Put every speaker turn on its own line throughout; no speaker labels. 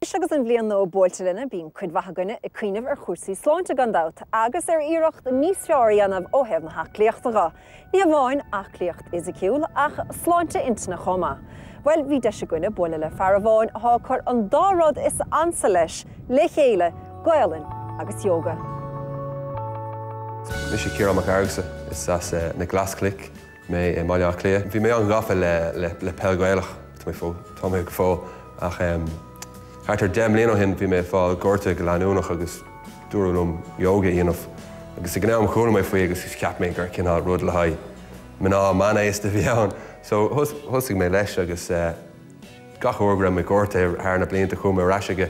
Anois agus an bhliain nua buailte linn bíonn cuid mhaith againne ag cuimhneamh ar chúrsaí sláinte gan dabht, agus ar iarracht níos fearr a dhéanamh ó thaobh na haclaíochta dho. Ní hamháin aclaíocht fhisiciúil, ach sláinte intinne chomh maith. Bhuel, bhí deis againne bualadh le fear amháin athá ag cur an dá rud is ansa leis le chéile, Gaolainn agus Yoga.
Mise Ciarán Mac Fhearghusa, is as Na Glaschnoic mé i mBaile Átha Cliath. Bhí mé an-ghafa le peil Ghaelach, tá mé go fóill, ach thart ar deich mbliana ó shin bhí mé ag fáil gorta go leanúnach agus dúradh liom yoga a dhéanamh. Agus ag an am chuala mé faoi agus cheap mé gur cineál rud le haghaidh mná meánaosta a bhí ann. So thosaigh mé leis agus. Gach uair go raibh mé gortaithe thar na blianta chuaigh mé ar ais aige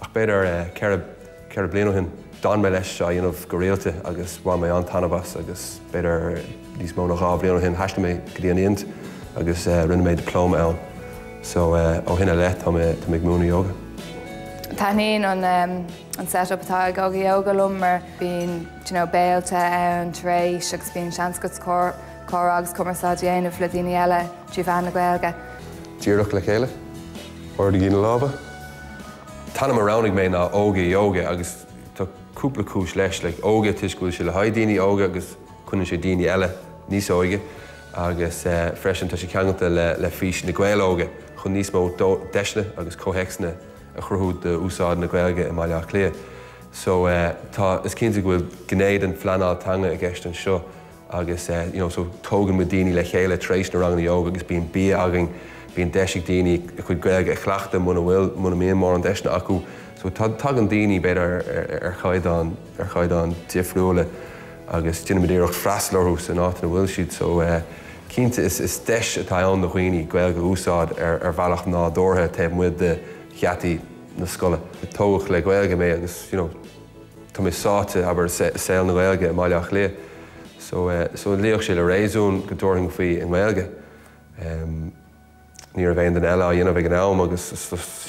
ach b'fhéidir ceithre, ceithre bliana ó shin d'fhan mé leis á dhéanamh go rialta agus bhain mé an-tairbhe as agus b'fhéidir níos mó ná dhá bhliain ó shin thaistil mé go dtí an Ind agus rinne mé dioplóma ann so ó shin i leith tá mé, tá mé ag múineadh ióga.
Taitníonn an, an set up atá ag Óga Yoga liom mar bíonn d'you know béilte ann tar éis agus bíonn seans agat comhrá agus cumarsáid a dhéanamh le daoine eile. trí mheán na Gaeilge. Díreach
le chéile. Ardaigí na lámha. An t-ainm a roghnaigh mé ná Óga Yoga agus tá cúpla cúis leis, like ióga toisc go bhfuil sé le haghaidh daoine óga agus coinníonn sé daoine eile níos óige agus freisin tá sé ceangailte le le fís Na Gaeil Óga chun níos mó deiseanna agus comhthéacsanna a chruthú d'úsáid na Gaeilge i mBaile Átha Cliath so tá is cinnte go bhfuil gné den phleanáil teanga i gceist anseo. agus you know so tógann muid daoine le chéile tar éis na ranganna ióga agus bíonn bia againn, bíonn deis ag daoine a chuid Gaeilge a chleachtadh muna bhfuil, muna mbíonn mórán deiseanna acu so tagann daoine b'fhéidir ar, ar chaighdeán, ar chaighdeán difriúla agus déanann muid iarracht freastal orthu san áit ina bhfuil siad so cinnte is, is deis atá ann do dhaoine Gaeilge a úsáid ar, ar bhealach nádúrtha taobh amuigh de gheataí na scoile. Tógadh le Gaeilge mé agus you know. Tá mé sáite, abair, i saol na Gaeilge i mBaile Átha Cliath, so, so luíodh sé le réasún go dtabharfainn faoi i nGaeilge. Ní raibh aon duine eile á dhéanamh ag an am agus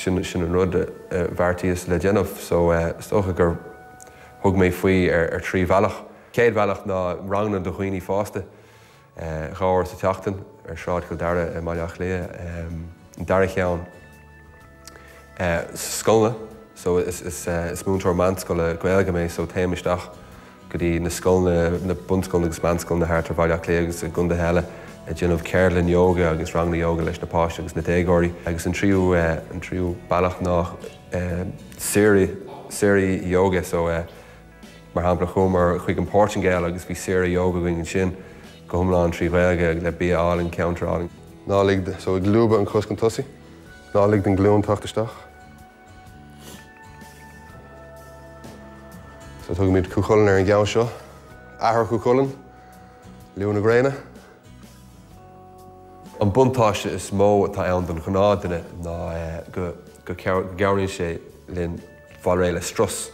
sin, sin an rud a bheartaíos le déanamh, so is dócha gur thug mé faoi ar trí bhealach. Chéad bhealach ná ranganna do dhaoine fásta. dhá uair sa tseachtain ar Shráid Chill Dara i mBaile Átha Cliath, an dara cheann scoileanna so is múinteoir meánscoile Gaeilge mé so téim isteach go dtí na scoileanna, na bunscoileanna agus meánscoileanna thart ar Bhaile Átha Cliath agus i gcontaetha eile ag déanamh ceardlann ióga agus ranganna ióga leis na páistí agus na déagóirí. Agus an tríú, an tríú bealach ná saoire, saoirí ióga so. Mar shampla, chuamar chuig an Portaingéil agus bhí saoire yoga againn ansin, go hiomlán trí Ghaeilge, le bia álainn, ceantar álainn. Ná lig do, so, ag lúbadh an chos chun tosaigh. Ná lig don ghlúin teacht isteach. So tugaimid Cú Chulainn ar an gceann seo. Athair Chú Chulainn, Lú na Gréine. An buntáiste is mó atá ann don ghnáth duine ná go gcabhraíonn sé linn fáil réidh le strus.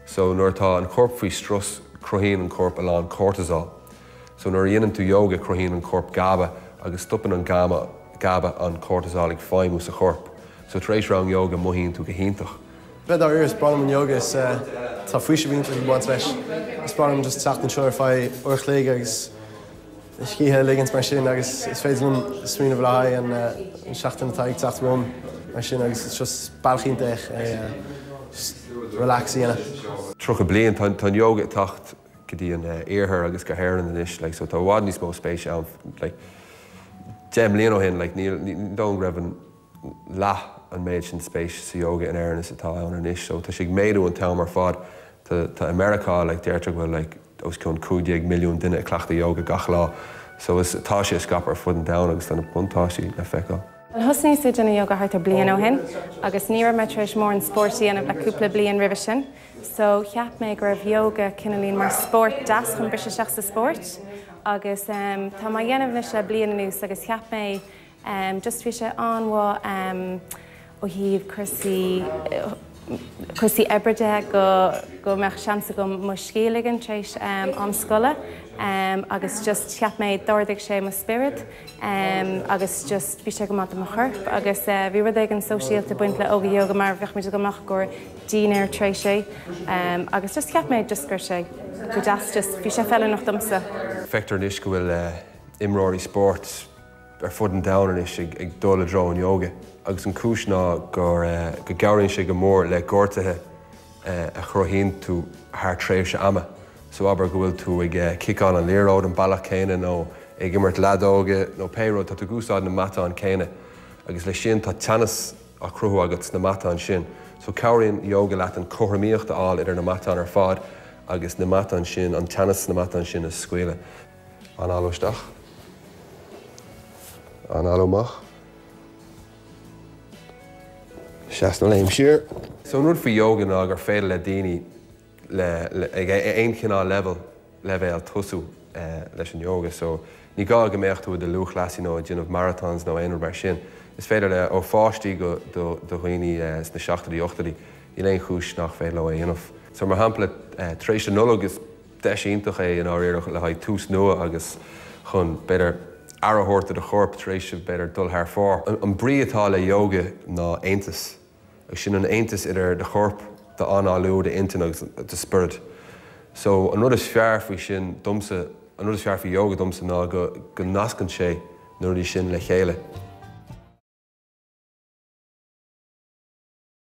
So nuair atá an corp faoi strus cruthaíonn an corp a lán cortisol. So nuair a dhéanann tú yoga cruthaíonn an corp gaba agus stopann an gama, gaba, an cortisol ag feidhmiú sa chorp. So tar éis rang yoga mothaíonn tú go hiontach. Bhuel dáiríre is
breá liom an yoga is tá faoiseamh iontach ag baint leis. Is breá liom just teacht anseo ar feadh uair a chloig agus. scíth a ligint mar sin agus is féidir liom smaoineamh le haghaidh an seachtain atá ag teacht romham mar sin agus is just bealach iontach é just relax a dhéanamh. 30
bliain, tá an ióga ag teacht go dtí an iarthar agus go hÉirinn anois like so tá i bhfad níos mó spéise ann like 10 mbliain ó shin like níl, ní dóigh go raibh an. leath an méid sin spéis sa yoga in Éirinn is atá ann anois, so tá sé ag méadú an t-am ar fad. Tá, tá, i Meiriceá, like, deirtear go bhfuil, like, os cionn cúig déag milliún duine ag cleachtadh yoga gach lá, so is, tá sé ag scaipeadh ar fud an domhain agus tá na buntáistí le feiceáil. Bhuel, thosnaíos ag déanamh
yoga thart ar bliain ó shin agus ní raibh mé tar éis mórán spóirt a dhéanamh le cúpla bliain roimhe sin, so cheap mé go raibh yoga cineáilín mar spórt deas chun briseadh isteach sa spóirt agus, em, tá mé á dhéanamh anois le bliain anuas agus cheap mé, em just bhí sé an-mhaith em ó thaobh cúrsaí cúrsaí oibre de go go mbeadh seans agam mo scíth a ligean tar éis em am scoile em agus just cheap mé d'ardaigh sé mo spiorad em agus just bhí sé go maith do mo chorp agus eh bhí rud éigin sóisialta ag baint le óga yoga mar bheadh muid ag dul amach i gcomhair dinnéar tar éis é em agus just cheap mé just go raibh sé go deas just bhí sé feiliúnach
domsa. Feictear
anois
go bhfuil eh
imreoirí spóirt. ar
fud an domhain anois ag dul i dtreo an Yoga agus an cúis ná gur go gcabhraíonn sé go mór le gortuithe a chruthaíonn tú thar tréimhse ama. So abair go bhfuil tú ag ciceáil an liathróid an bealach céanna nó ag imirt leadóige nó pé rud, tá tú ag úsáid na matáin céanna agus le sin tá teannas á chruthú agat sna matáin sin. So cabhraíonn Yoga leat an cothromaíocht a fháil idir na matáin ar fad agus na matáin sin, an teannas sna matáin sin a scaoileadh. Análú isteach. Análú amach. Seas nó léim siar. So an rud faoi yoga ná gur féidir le daoine le ag aon chineál leibhéal leibhéal tosú leis an yoga. So ní gá go mbeadh tú i do lúthchleasaí nó ag déanamh marathons nó aon rud mar sin. Is féidir le, ó pháistí go do do dhaoine sna seachtóidí ochtóidí. Níl aon chúis nach féidir leo é dhéanamh. So mar shampla tar éis an Nollaig is. Deis iontach é i ndáiríre le haghaidh tús nua agus chun, b'fhéidir, aire a thabhairt do do chorp tar éis, b'fhéidir, dul thar fóir. An brí atá le yoga ná aontas, agus sin an aontas idir do chorp, d'análú, d'intinn agus do spiorad. So, an rud is fearr faoi sin domsa, an rud is fearr faoi yoga domsa ná go nascann sé na rudaí sin le chéile.